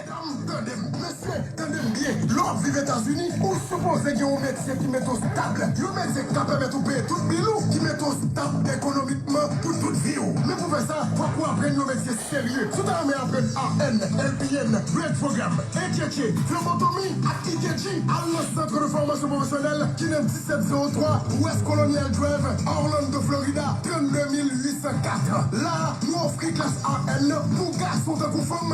Medam tandem mesye tandem byen lè wap viv etazini ou sipoze gen yon metye ki mete w stab yon metye ki ka pèmèt ou peye tout bil ou ki mete w stab ekonomikman pou tout vi w men pou fè sa fòk ou aprann yon metye serye si w ta renmen aprann RN, LPN, Grade Program, HHA, Flebotomi ak EKG al nan Centre de Formation Professionnelle ki nan 1703 West Colonial Drive Orlando Florida 32804 la a nou ofri klas RN pou gason tankou fanm.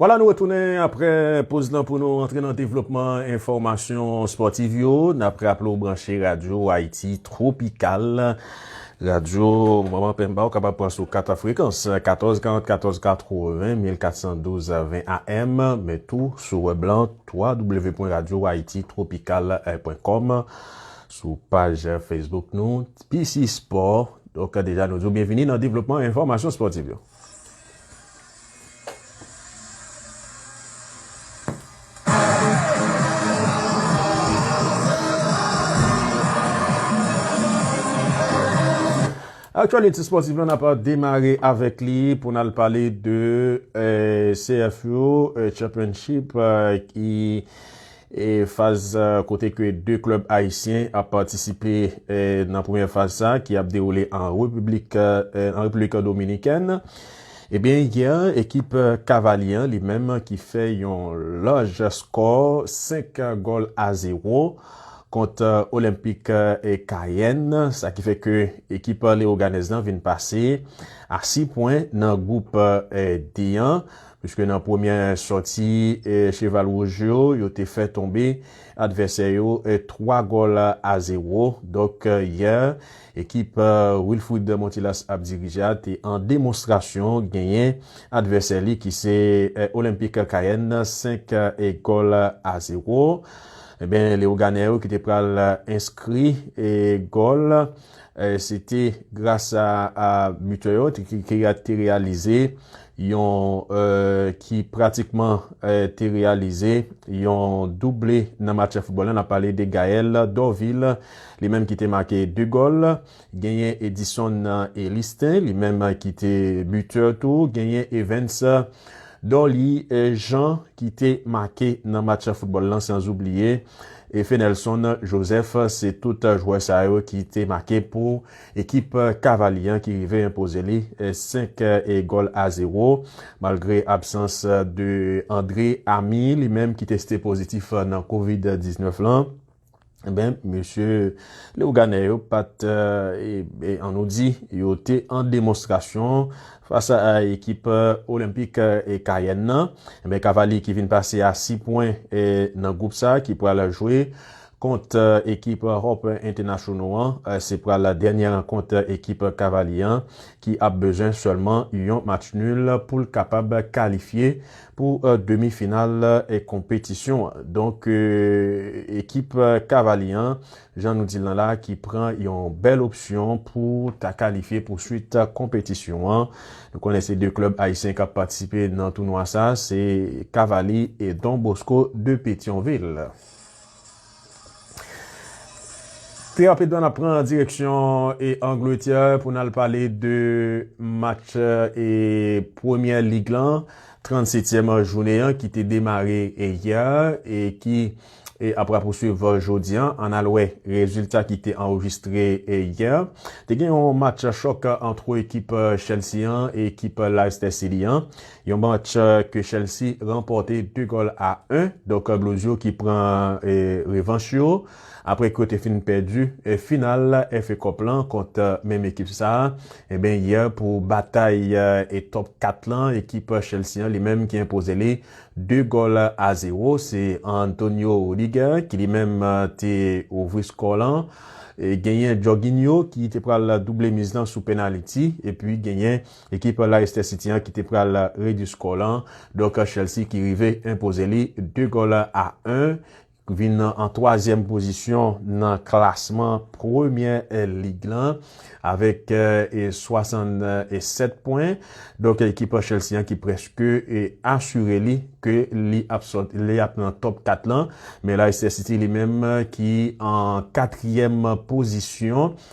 Vwala nou retounen apre poz lan pou nou antre nan devlopman enfòmasyon spòtiv yo. N ap raple w branche Radyo Ayiti Twopikal, Radyo Manman Pemba ou kapab pran sou 4 frekans, 1440, 1480, 1412, 20 AM, men tou sou wèb lan www.radyoayititropical.com. Sou paj Facebook nou, PC Sport. Donk deja nou di w byenvini nan devlopman enfòmasyon spòtiv yo. Aktyalite spòtiv lan ap demare avèk li pou n al pale de CFU Championship ki E faz kote ke 2 klub ayisyen ap patisipe nan premyè faz sa ki ap dewoule an repiblik an Repiblik Dominikèn. Ebyen yè a ekip Kavalye an li menm ki fè yon laj skò 5 gòl a 0 kont Olenpik Kayèn sa ki fè ke ekip Leyoganèz lan vin pase a 6 pwen nan gwoup D an. Piske nan premyè sòti Cheval Wouj yo, yo te fè tonbe advèsè yo 3 gòl a zewo, donk yè ekip Wilfrid Montilas ap dirije a te an demonstrasyon genyen advèsè li ki se Olympique Cayenne 5 gòl a zewo. Enben Leoganè yo ki te pral enskri gòl se te gras a butè yo ki te reyalize yon ki pratikman te reyalize yon double nan match foutbòl la, n ap pale de Gaël Dorvil, li menm ki te make 2 gòl, genyen Edison Elistin, li menm ki te bitè tou, genyen Evens Dorly Jean ki te make nan match foutbòl la, san oubliye Fenelson Joseph, se tout jwè sa yo ki te make pou. Ekip Cavaly an ki rive enpoze li 5 gòl a 0 malgre absans de Andre Amy li menm ki teste pozitif nan covid 19 lan enben mesye Leoganè yo pat an nou di yo te an demonstrasyon fas a ekip Olenpik Kayèn nan enben Cavaly ki vin pase a 6 pwen nan gwoup sa ki pral jwe Kont ekip Hope Entenasyonal an, se pral dènyè rankont ekip Kavalye an ki ap bezwen sèlman yon match nul pou l kapab kalifye pou demi final konpetisyon an. Donk ekip Kavalye an, jan nou di l nan la a, ki pran yon bèl opsyon pou ta kalifye pou swit konpetisyon an. Nou konnen se 2 klèb ayisyen k ap patisipe nan tounwa sa a, se Kavali e Don Bosco de Petyonvil. Terape dwa n ap pran direksyon Angletè pou n al pale de match premyè lig lan, 37 tyèm jounen an ki te demare yè e ki ap rapousuiv jodi an. An n al wè rezilta ki te anrejistre yè. Te gen yon match chòk antre ekip Chelsea an e ekip Leicester City an. Yon match ke Chelsea ranpòte 2 gòl a 1, donk Blues yo ki pran revanch yo apre ke yo te fin pèdi final FA Cup lan kont menm ekip sa enben yè pou batay Top 4 lan, ekip Chelsea an li menm ki enpoze li 2 gòl a 0, se Antonio Rudiger ki li menm te ouvri skò lan, genyen Jorginho ki te pral double miz lan sou penaliti epi genyen Ekip Leicester City an ki te pral redi skò lan, donk Chelsea ki rive enpoze li 2 gòl a 1, vin an twazyèm pozisyon nan klasman premyè lig lan avèk 67 pwen. Donk ekip Chelsea an ki prèske asire li ke li ap sot, li ap nan top 4 lan, men Leicester City li menm ki an katriyèm pozisyon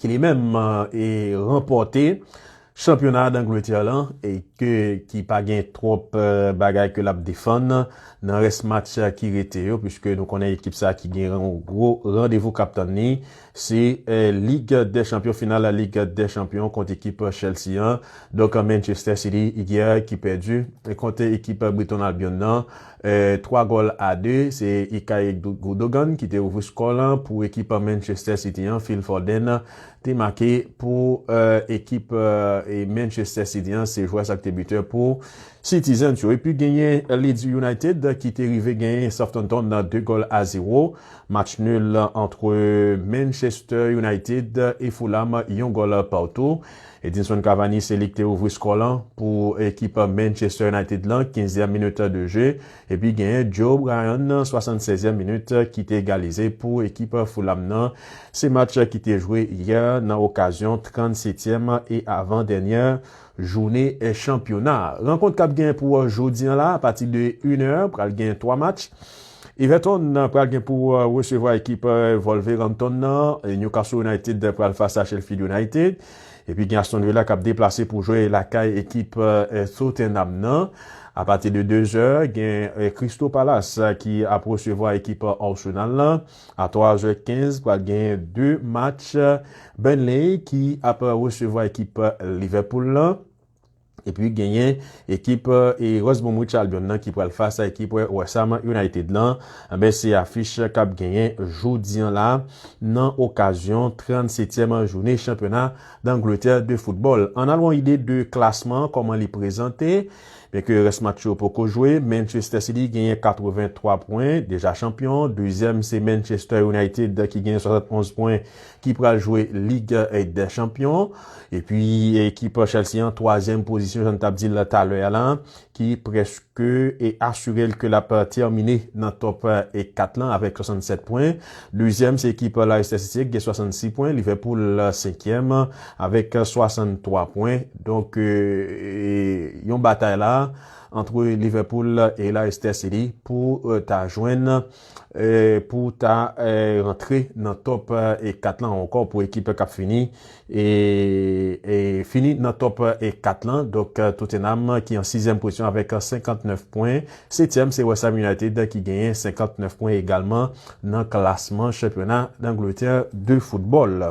ki li menm e ranpòte chanpyona Dangletè lan e ke ki pa gen twòp bagay ke lap defann nan rès match ki rete yo puiske nou konnen ekip sa ki gen yon gwo randevou kap tann ni se lig dè chanpyon final la lig dè chanpyon kont ekip Chelsea an donk Manchester City yè ki pèdi kont ekip Briton Albion nan. 3 gòl a 2, se Ikay Gundogan ki te ouvri skò lan pou ekip Manchester City an, Phil Foden te make pou ekip Manchester City an, se jwè sa ki te bitè pou Citizens yo. Epi genyen Leeds United ki te rive genyen Southampton 2 gòl a 0, match nul antre Manchester United e Fulham yon gòl partou. Edinson Cavani se li ki te ouvri skò lan pou ekip Manchester United lan kinzyèm minit de je epi genyen Joe Bryan nan swasannsèzyèm minit ki te egalize pou ekip Fulham nan. Se match ki te jwe yè nan okazyon trannsetyèm e avan dènyè joune chanpyona. Rankont k ap genyen pou jodi an la apati de inè pral genyen twa match. Everton pral gen pou resevwa ekip Wolverhampton nan, Newcastle United pral fas a Sheffield United, epi gen Aston Villa kap deplase pou jwe lakay ekip Tottenham nan. Apati de 2 zè, gen Crystal Palace ki ap resevwa ekip Arsenal lan. A 3 zè 15 pral gen 2 match, Burnley ki ap resevwa ekip Liverpool lan, Epi genyen ekip West Bromwich Albion nan ki pral fas a ekip West Ham United lan. Anben se afich k ap genyen jodi an la nan okazyon 37 tyèm jounen chanpyona Dangletè de foutbòl. Ann al yon ide de klasman an kòman li prezante. Byenke rès match yo poko jwe, Manchester City genyen 83 pwen, deja chanpyon. Dezyèm se Manchester United ki genyen 71 pwen, ki pral jwe lig dè chanpyon epi ekip Chelsea an twazyèm pozisyon jan n t ap di l talè a la ki prèske asire l ke l ap tèmine nan tòp 4 lan avèk 67 pwen dezyèm se ekip Leicester City ki gen 66 pwen Liverpool senkyèm avèk 63 pwen donk yon batay la antre Liverpool e Leicester City pou ta jwenn. pou ta rantre nan top 4 lan ankò pou ekip kap fini fini nan top 4 lan donk Tottenham ki an 6 èm pozisyon avèk 59 pwen 7 èm se Westham United ki genyen 59 pwen egalman nan klasman chanpyona Dangletè de foutbòl.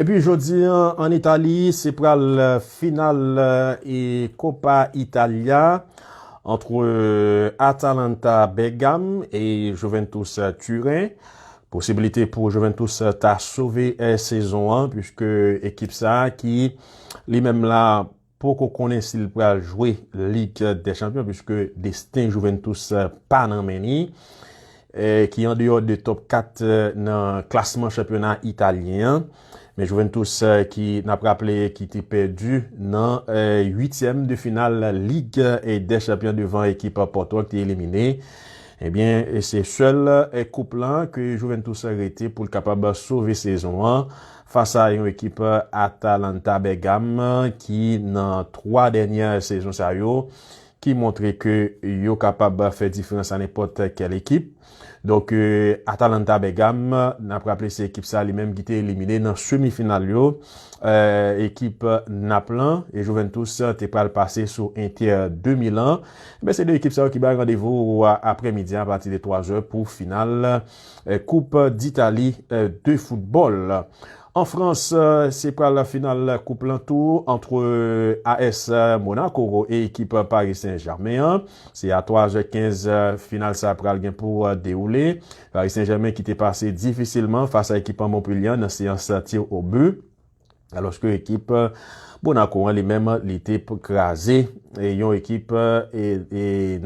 Epi jodi an an Itali se pral final Coppa Italia antre Atalanta Bergame e Juventus Turen. Posibilite pou Juventus ta sove sezon an puiske ekip sa ki li menm la poko konnen si l pral jwe Lig dè Chanpyon puiske desten Juventus pa nan men li, ki andeyò de top 4 nan klasman chanpyona italyen an. Men Juventus ki n ap raple ki te pèdi nan uityèm de final Lig dè Chanpyon devan ekip Pòto an ki te elimine, ebyen se sèl koup lan ke Juventus rete pou l kapab sove sezon an Fas a yon ekip Atalanta Bèrgam ki nan 3 dènyè sezon sa yo ki montre ke yo kapab fè diferans a nenpòt kèl ekip. Donk Atalanta Bèrgam, n ap raple se ekip sa li menm ki te elimine nan semi final yo ekip Nap lan e Juventus te pral pase sou Inter de Milan. Enben se 2 ekip sa yo ki bay randevou aprè midi a apati de 3 zè pou final koup ditali de foutbòl. An frans se pral final koup lan tou antre AS Monaco e ekip Paris Saint Germain an. Se a 3 zè 15 final sa pral gen pou dewoule. Paris Saint Germain ki te pase difisilman fas a ekip Montpellier an nan seyans tir o but. Alòske ekip Monaco an li menm li te kraze yon ekip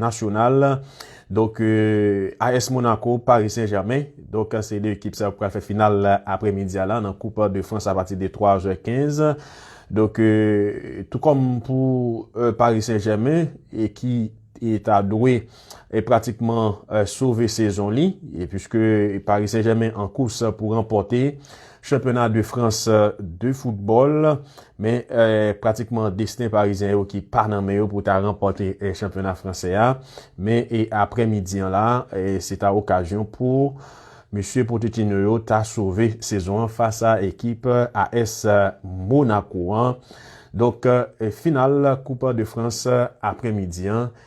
nasyonal donk AS Monaco Paris Saint Germain donk se 2 ekip sa yo ki pral fè final aprè midi a la nan koup de Frans apati de 3 zè 15 donk tou kòm pou Paris Saint Germain ki ta dwe. e pratikman sove sezon li puiske Paris Saint Germain an kous pou ranpòte chanpyona de Frans de foutbòl men pratikman desten parizyen yo ki pa nan men yo pou ta ranpòte chanpyona fransè a men e aprè midi an la se ta okazyon pou mesye Potetino yo ta sove sezon an fas a ekip AS Monaco an donk final koup de Frans aprè midi an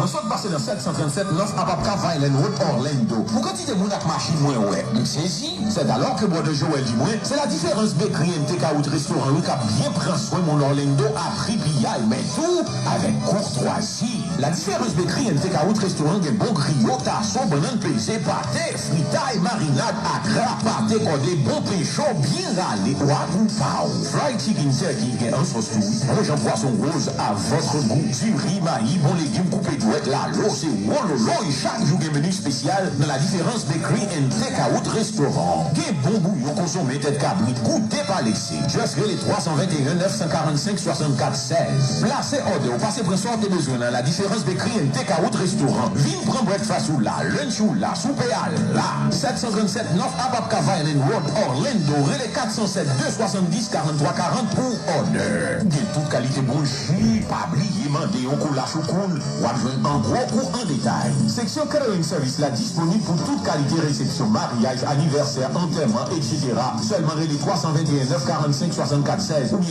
Mwen sot pase nan 737 North Apopka Vineland Road Orlando pou kantite moun ak machin mwen wè m sezi, c'est alors que Brother Joel di mwen se la diferans Bakery and Takeout restoran wi kap byen pran swen moun Orlando a pri piyay men tou avèk kourtwazi. La Diferans Bakery and Takeout restoran gen bon griyo, taso, bannann peze, pate, Fritay, marinad, akra, pate kòde, bon pen cho byen rale ou ak moun pa ou. Fried chicken turkey gen an sòs tou wi. Bon jan pwason woz a votre goût. Diri, mayi, bon legim koupe dwèt, lalo se wololoy chak jou gen menu spesyal nan La Différence Bakery and Takeout Restaurant. Gen bon bouyon konsonmen tèt kabrit goute pa lese. Just rele 321 945 6400. 16, Plase òdè ou pase pran sa w te bezwen nan la diferans de Cliente Cawout Restaurant Vin pran breakfast ou la, lunch ou la, soupe a la 737 North Apopka Violin Road, Orlando Rele 407 270 43 40 pou òdè Gen tout kalite bon ji Pa bliye mande yon kola choukoun W ap jwenn an gwo kou an detay Seksyon Catering Sèvis la disponib pou tout kalite resepsyon Maryaj, anivèsè, antèman, etc Sèlman rele 321 945 64 16 oubyen.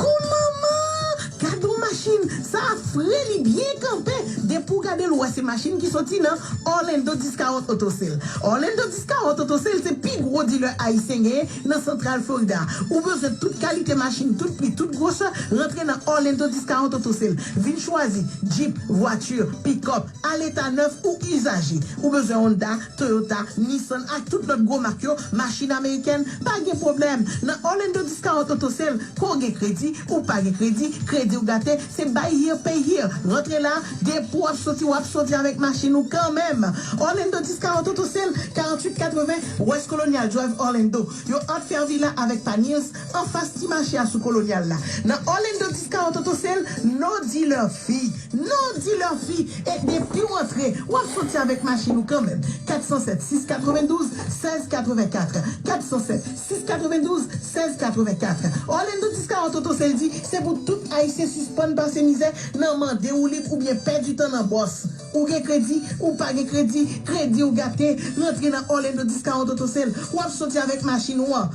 Kou manman! Gad on machin! Sa a fre, li byen kanpe! Depi w gade l ou wè se machin ki soti nan Orlando Discount Auto Sale. Orlando Discount Auto Sale se pi gwo dilè ayisyen genyen nan Santral Florida. Ou bezwen tout kalite machin, tout pri, tout gwosè, rantre nan Orlando Discount Auto Sale. Vin chwazi, Jeep, vwati, pick-up, aleta nèf ou izaje. Ou bezwen Honda, Toyota, Nissan ak tout lòt gwo mak yo, machin amerikèn, pa gen pwoblèm. Nan Orlando Discount Auto Sale, ke w gen kredi, ou pa gen kredi, kredi w gate, se buy here, pay here. Rantre la, depi w ap soti, w ap soti avèk machin ou kanmenm. Orlando Discount Auto Sale, 4880 West Colonial Drive, Orlando. Yo ap fè anvi la avèk Panils, Anfas ti mache a sou Kolonyal la, nan Orlando Discount Auto se l No Dealer Fi! No Dealer Fi! E depi w antre, w ap soti avèk machin ou kanmenm. 407 692 1684, 407 692 1684, Orlando Discount Auto se l di se pou tout Ayisyen sispann pase mizè nan mande woulib oubyen pèdi tan nan bòs. Ou gen kredi, ou pa gen kredi, kredi w gate, rantre nan Orlando Discount Auto se l, w ap soti avèk machin ou an.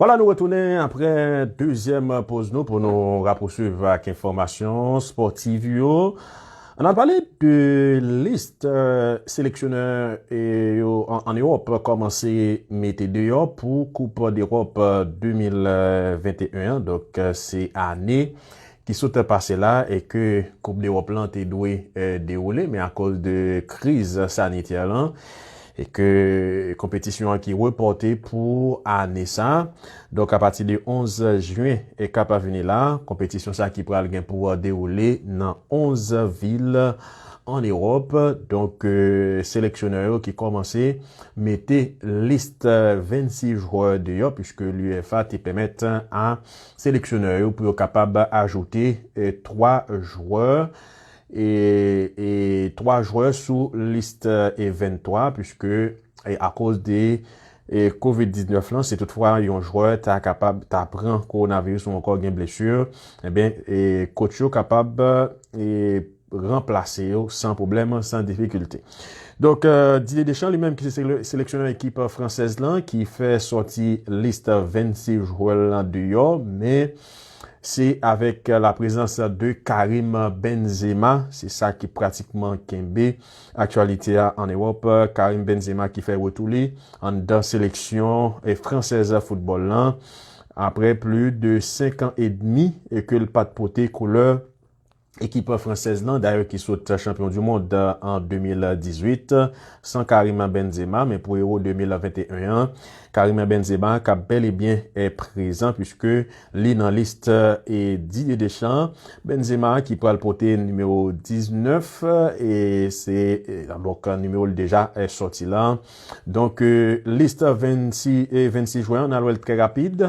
Wala nou retounen aprè dezyèm poz nou pou nou rapousuiv ak enfòmasyon spòtiv yo. An al pale de list seleksyonè yo an Ewòp kòmanse mete deyò pou koup dEròp 2021 an donk se ane ki sot pase la e ke koup dewòp lan te dwe dewoule men akoz de kriz sanitè lan e ke konpetisyon an ki repòte pou ane sa donk a pati de 11 jyen e kap vini la konpetisyon sa ki pral gen pou dewoule nan 11 vil an ewòp donk seleksyonè yo ki kòmanse mete list 26 jwè deyò pwiske l'UEFA te pèmèt a. seleksyonè yo pou yo kapab ajoute 3 jwè e 3 jwè sou list e 23 puiske akoz de covid 19 lan si tout fwa yon jwè ta kapab ta pran coronavirus ou ankò gen blesur enben kotch yo kapab ranplase yo san pwoblèm, san difikilte. Donk, Didier Deschamps, li menm ki se seleksyonè ekip fransèz lan, ki fè sòti lis 26 jwè l lan deyò, men se avèk la prezans de Karim Benzema, se sa ki pratikman kenbe aktyalite a an Ewòp, Karim Benzema ki fè retou li anndan seleksyon fransèz foutbòl lan, aprè pli de 5 an edmi ke l pa t pote koulè. Ekip fransèz lan dayè ki sot chanpyon du mond an 2018 san Karim Benzema men pou Euro 2021 an Karim Benzema kap bel e byen prezan puiske li nan list Didier Deschamps. Benzema ki pral pote nimewo 19 e se donk nimewo l deja soti la donk list 26 jwen an nal wèl trè rapid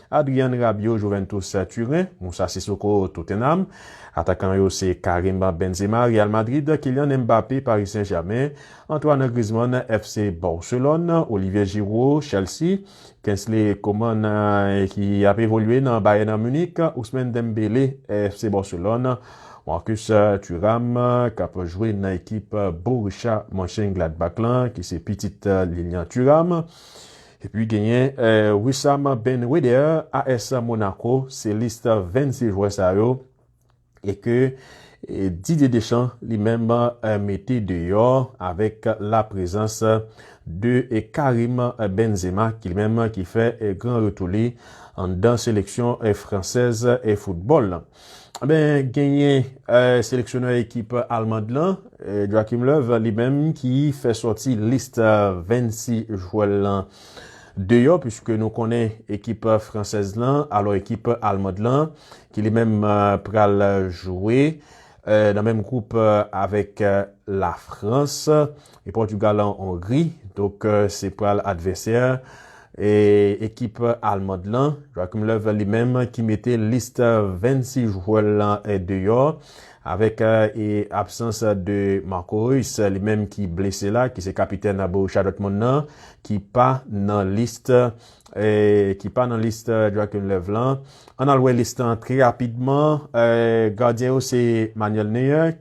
Adrian Rabiot Juventus Turen, Moussa Sissoko Tottenham, Atakan yo se Karim Benzema Real Madrid, Kylian Mbappé Paris Saint Germain, Antoine Griezmann FC Barcelone, Olivier Giroud Chelsea, Kingsley Coman ki ap evolye nan Bayern Munich, Ousmane Dembélé FC Barcelone, Marcus Thuram k ap jwe nan ekip Borussia Monchengladbach lan ki se pitit Lilian Thuram. Epi genyen Wissam Ben Yedder, AS Monaco, se lis 26 jwè sa yo e ke Didier Deschamps li menm mete deyò avèk la prezans de Karim Benzema ki li menm ki fè gran retou li anndan seleksyon fransèz foutbòl. Enben, genyen seleksyonè ekip Almand lan, Joachim Löw, li menm ki fè sòti lis 26 jwè l lan deyò, puiske nou konnen ekip fransèz lan, alò ekip Almand lan, ki li menm pral jwe nan menm gwoup avèk Lafrans, E Pòtugal an Ongri, donk se pral advèsè ekip almand lan. Joachim Löw li menm ki mete list 26 jwè l lan deyò avèk absans de Marco Reus li menm ki blese la ki se kapitèn Borussia Dortmund lan ki pa nan list ki pa nan list Joachim Löw lan. Ann al wè lis lan trè rapidman, gadyen yo se Manuel Neuer.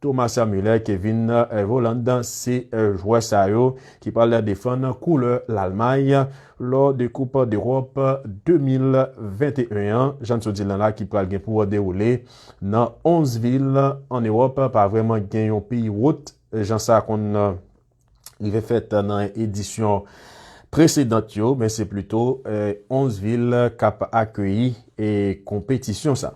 Thomas Muller, Kevin Volland se jwè sa yo ki pral defann koulè Lalmay lò de koup dEròp 2021 an. Jan n sot di l nan la ki pral gen pou dewoule nan 11 vil an Ewòp pa vrèman gen yon peyi wot jan sa konn. rive fèt nan edisyon presedant yo, men se plito 11 vil k ap akeyi konpetisyon sa.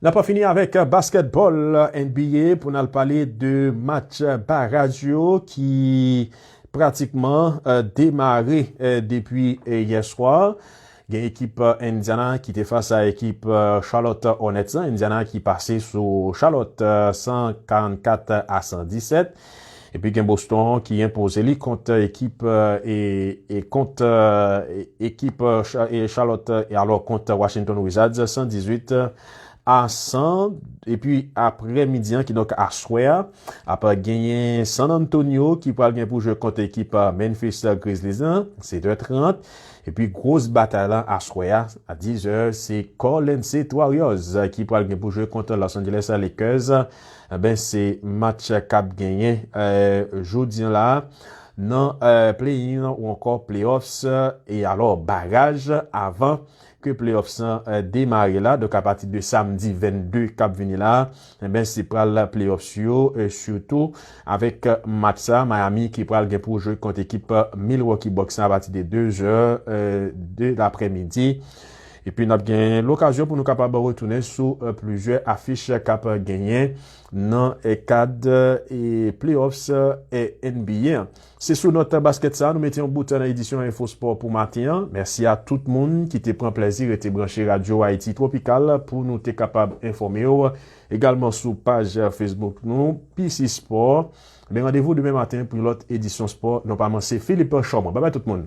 N ap fini avèk baskètbòl NBA pou n al pale de match baraj yo ki pratikman demare depi yè swa. Gen ekip Indiana ki te fas a ekip Charlotte Hornets lan, Indiana ki pase sou Charlotte 144 a 117. Epi gen Boston ki enpoze li kont ekip e kont ekip Charlotte e alò kont Washington Wizards 118 a 100. Epi apre midi an ki donk aswè a ap genyen San Antonio ki pral gen pou jwe kont ekip Memphis Grizzlies lan 7 è 30. Epi gros batay lan aswè a a 10 zè se Golden State Warriors ki pral gen pou jwe kont Los Angeles Lakers enben se match kap genyen jodi la nan play in ou ankò play offs e alò baraj avan ke play offs lan demare la donk apati de samdi 22 kap vini la. Enben se pral playoffs yo sitou avèk match sa Miami ki pral gen pou jwe kont ekip Milwaukee Bucks la apati de 2 zè de laprè midi. Epi n ap gen lokazyon pou nou kapab retounen sou plizyè afich k ap genyen nan kad playoffs NBA. Se sou nòt baskèt sa a nou mete yon bout nan edisyon Info Sport pou maten an. Mèsi a tout moun ki te pran plèzi rete branche radyo Haïti Tropical pou nou te kapab enfòme w egalman sou paj Facebook nou PC Sport. Ebyen randevou demen maten pou yon lòt edisyon spò non pa man se Philippe Chaumont. Babay tout moun.